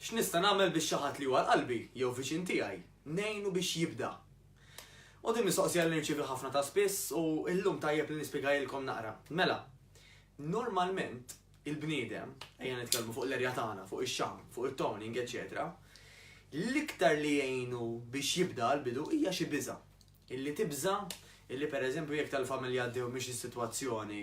X'nista' nagħmel biex xi ħadd li huwa l-qalbi jew viċin tiegħi ngħinu biex jibda? U din mistoqsija li nirċievi ħafna ta' spiss u llum tajjeb li nispjegajilkom naqra. Mela, normalment il-bniedem, ejja nitkellmu fuq l-erja tagħna, fuq ix-xam, fuq it-toning, eċetera, l-iktar li jgħinu biex jibda l-bidu hija xi biża'. Illi tibża' illi pereżempju jekk tal-familja għaddew minn xi sitwazzjoni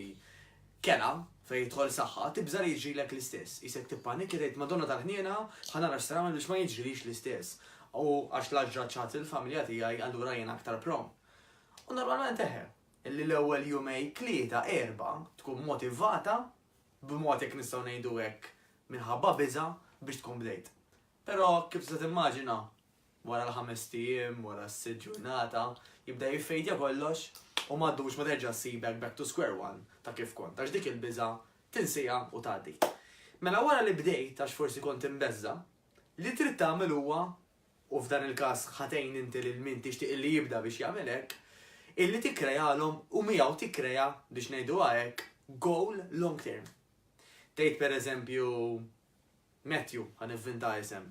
kerha fejn jidħol saħħa, tibża' li jiġrilek l-istess. Qisek tippanikja tgħid Madonna tal-Ħniena ħa nara x'se nagħmel biex ma jiġrilix l-istess. U għax la ġrat xi ħadd fil-familja tiegħi allura jiena aktar prone. U normalment eħe, illi l-ewwel jumej tlieta erba' tkun motivata b'mod jekk nistgħu ngħidu hekk minħabba biża' biex tkun bdejt. Però kif tista' timmaġina, wara l-ħamest ijiem, wara s-sitt ġurnata, jibda jiffejdja kollox u m'għaddux ma terġa' ssibek back to square one ta' kif kont għax dik il-biża' tinsiha u tgħaddi. Mela wara li bdejt għax forsi kont imbeżża', li trid tagħmel huwa, u f'dan il-każ ħa tgħin inti lil min tixtieq illi jibda biex jagħmel hekk, illi tikkrealhom u miegħu tikkrea, biex ngħiduha hekk, goal long term. Tgħid pereżempju, Matthew, ħa nivvinta isem,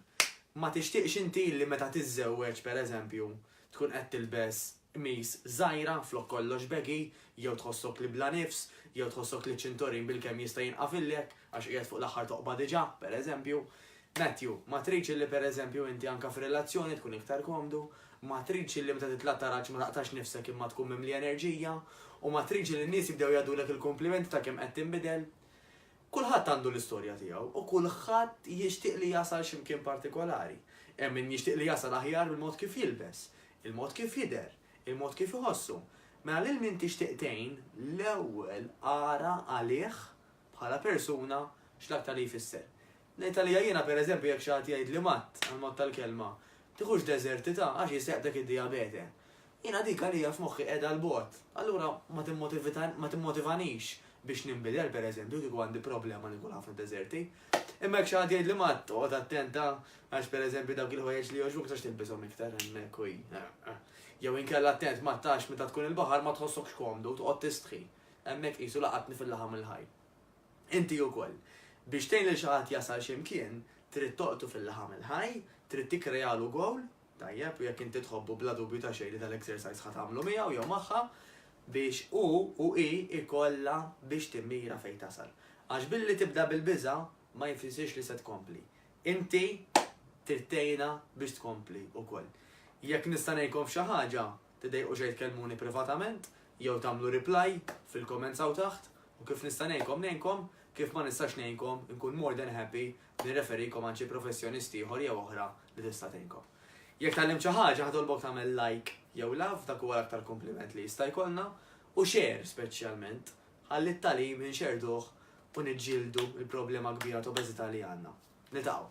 Ma tixtieqx inti li meta tiżżewweġ, pereżempju, tkun qed tilbes qmis żgħira flok kollox baggy, jew tħossok li bla nifs, jew tħossok li ċ-ċintorin bilkemm jista' jinqafillek għax qiegħed fuq l-aħħar toqba diġà, pereżempju. Matthew, Ma tridx illi pereżempju inti anke f'relazzjoni tkun iktar komdu? Ma tridx illi meta titla' t-taraġ ma taqtax nifsek imma tkun mimli enerġija? U ma tridx li n-nies jibdew jgħiddulek il-kumplimenti ta' kemm qed tinbidel? Kulħadd għandu l-istorja tiegħu u kulħadd jixtieq li jasal xi mkien partikolari. Hemm min jixtieq li jasal aħjar bil-mod kif jilbes, il-mod kif jidher, il-mod kif iħossu. Mela lil min tixtieq tgħin, l-ewwel ara għalih bħala persuna x'l-aktar li jfisser. Ngħid għalija jiena pereżempju jekk xi ħadd jgħidli matt għall-mod tal-kelma, tiħux deżertità għax jseħħ dak id-dijabete. Jiena dik għalija f'moħħi qiegħda 'l bogħod. Allura ma timmotivita ma timmotivanix biex ninbidel, per eżempju, kieku għandi problema li nkun ħafna deżerti. Imma jekk xi ħadd jgħidli Matt, oqgħod attenta għax per eżempju dawk il-ħwejjeġ li jogħġbuk ma tistax tilbishom iktar hemmhekk u Jew inkella attent Matt għax meta tkun il-baħar ma tħossokx komdu, toqgħod tistħi. Hemmhekk qisu laqatni fil-laħam il-ħaj. Inti ukoll. Biex tgħin lil xi ħadd jasal xi mkien, trid toqtu fil-laħam il-ħaj, trid tikkrejalu gowl, Tajjeb, u jekk inti tħobbu bla dubju ta' xejn li dal-exercise ħa tagħmlu miegħu jew magħha biex hu u hi jkollha biex timmira fejn tasal. Għax billi tibda bil-biża' ma jfissirx li se tkompli. Inti trid tgħinha biex tkompli wkoll. Jekk nista' ngħinkom f'xi ħaġa, tidejqu xejn tkellmuni privatament jew tagħmlu reply fil-comments hawn taħt u kif nista' ngħinkom ngħinkom, kif ma nistax ngħinkom inkun more than happy Nirreferikom għand xi professjonist ieħor jew oħra li tista' tgħinkom. Jekk tgħallimt xi ħaġa ħatolbok tagħmel like jew love, dak huwa l-aktar kumpliment li jista' jkollna, u share speċjalment, ħalli t-tagħlim inxerrduh u niġġieldu l-problema kbira t'obeżità li għandna. Niltaqgħu!